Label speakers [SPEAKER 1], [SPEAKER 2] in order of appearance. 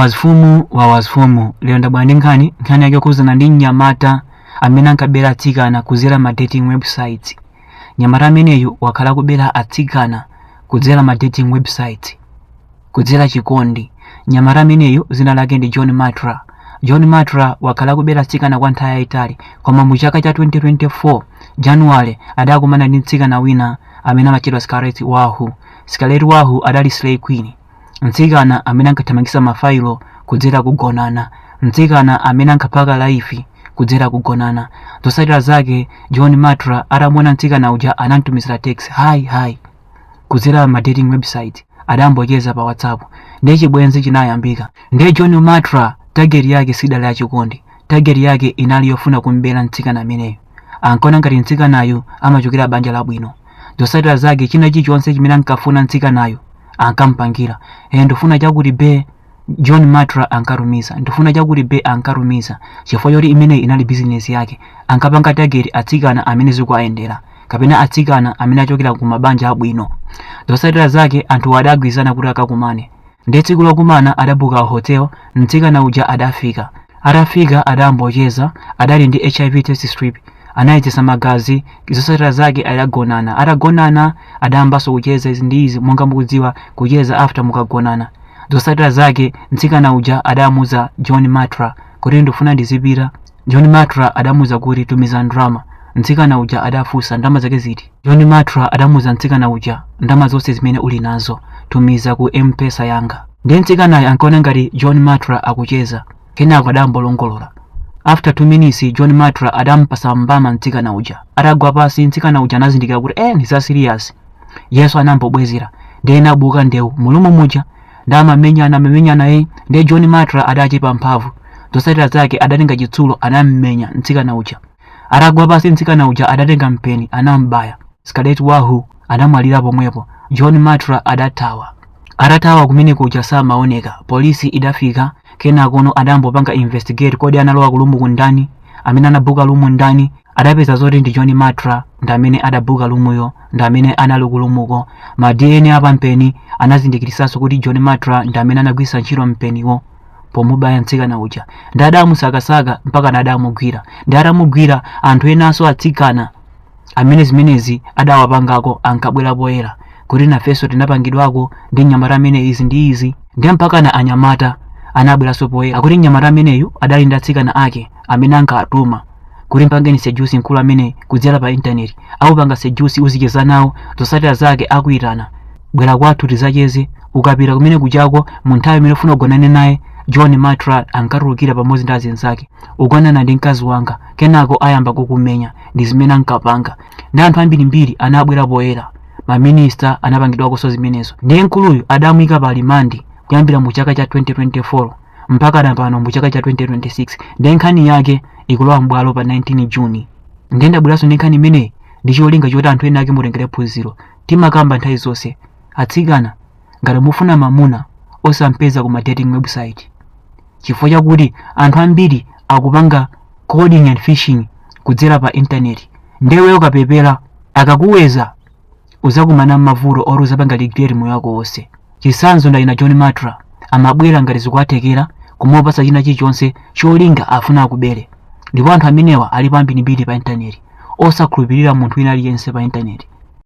[SPEAKER 1] wazfumu wa wazfumu lero ndabwera ndi nkhani nkhani yake yokhuzana ndi mnyamata amene ankabera atsikana kudzera ma dating websites mnyamata ameneyu wakhala akubera atsikana kudzera ma dating websites kudzera chikondi mnyamata ameneyu dzina lake ndi john matra john matra wakhala akubera atsikana kwa nthawi yayitali koma mu chaka cha 2024 januwale adakumana ndi mtsikana wina amene amatchedwa scarlet wahu scarlet wahu anali slay queen mtsikana amene ankathamangitsa mafailo kudzera kugonana mtsikana amene ankaphaka life kudzera kugonana zotsatira zake john matra atamuona mtsikana uja anamtumizira text hi hi kudzera ma dating website adambocheza pa whatsapp ndiye chibwenzi chinayambika nde john matra tageti yake sidali yachikondi tageti yake inali yofuna kumbera mtsikana ameneyo Ankaona ngati mtsikanayu amachokera banja labwino. Zotsatira zake china chilichonse chimene ankafuna mtsikanayu ankamupangira. Eh, ndifuna chakuti be, John Matra ankatumiza. Ndifuna chakuti be ankatumiza. Chifukwa choti imeneyi inali bizinesi yake. Ankapanga target atsikana amene zikuwayendera kapena atsikana amene achokera ku mabanja abwino. Zotsatira zake anthuwo adagwirizana kuti akakumane. Ndiye tsiku lokumana adabuka hotel, mtsikana uja adafika. Atafika adambocheza, adali ndi HIV test strip, anayezesa magazi, zosatira zake adagonana. Atagonana adayambanso kucheza izi ndi izi, monga mukudziwa kucheza after mukagonana. Zosatira zake mtsikana uja adamuza John Matra kuti ndifuna ndizipita John Matra adamuuza kuti tumiza ndalama. Mtsikana uja adafunsa ndalama zake ziti? John Matra adamuuza mtsikana uja ndalama zonse zimene uli nazo tumiza ku M-Pesa yanga. Ndiye mtsikanayo ankaona ngati John Matra akucheza. Kenako adambolongolola. After 2 minutes John Matra adampasa mbama mtsikana uja. Atagwa pansi mtsikana uja anazindikira kuti eh ndi za serious. Iyenso anambobwezera. Ndiye inabuka ndewu mu room muja. nde amamenyana amamenyana e ndiye john matra adachepa mphamvu zotsatira zake adatenga chitsulo anammenya mtsikana uja atagwa pansi mtsikana uja adatenga mpeni anambaya scarlet wahu adamwalira pomwepo john matra adathawa atathawa kumene kuja samaoneka polisi idafika kenakono adambopanga investigate kodi analowa ku room ko ndani amene anabuka room ndani adapeza zoti ndi john matra ndi amene adabuka room yo ndi amene anali ku room ko ma dna a pampeni anazindikirisanso kuti john matra ndi amene anagwiritsa ntchito mpeniwo pomubaya mtsikana uja nde adamusakasaka mpakana adamugwira nde atamugwira anthu enanso atsikana amene zimenezi adawapangako ankabwera poyera kuti nafenso tinapangidwako ndi mnyamata ameneyi izi ndi izi nde mpakana anyamata anabweranso poyera akuti mnyamata ameneyu adali ndi atsikana ake amene ankawatuma kuti mpangeni seduce mkulu amene kudzera pa intaneti akupanga seduce uzicheza nawo zosatira zake akuyitana bwera kwathu tizacheze ukapita kumene kujako mu nthawi imene ufuna ugonane naye john matra ankatulukira pamodzi ndi azinzake ugonana ndi mkazi wanga kenako ayamba kukumenya ndi zimene ankapanga ndi anthu ambirimbiri anabwera poyera maminista anapangidwakonso zimenezo ndiye mkuluyu adamuyika pa remand kuyambira mu chaka cha 2024 mpaka na pano mu chaka cha 2026 ndiye nkhani yake ikulowa m'bwalo pa 19 June ndiye ndabweranso ndi nkhani imeneyi ndi cholinga choti anthu ena ake mutengere phunziro timakamba nthawi zonse atsikana ngati mufuna mamuna osampeza ku ma dating website chifukwa chakuti anthu ambiri akupanga coding and fishing kudzera pa intaneti ndiye iweyo ukapepera akakuwedza uzakumana m'mavuto oti uzapanga regret moyo wako wonse chitsanzo ndi dzina john matra amabwera ngati zikuwathekera kumapatsa china chilichonse cholinga afuna akubere ndipo anthu amenewa alipo ambirimbiri pa intaneti osakhulupirira munthu wina aliyense pa intaneti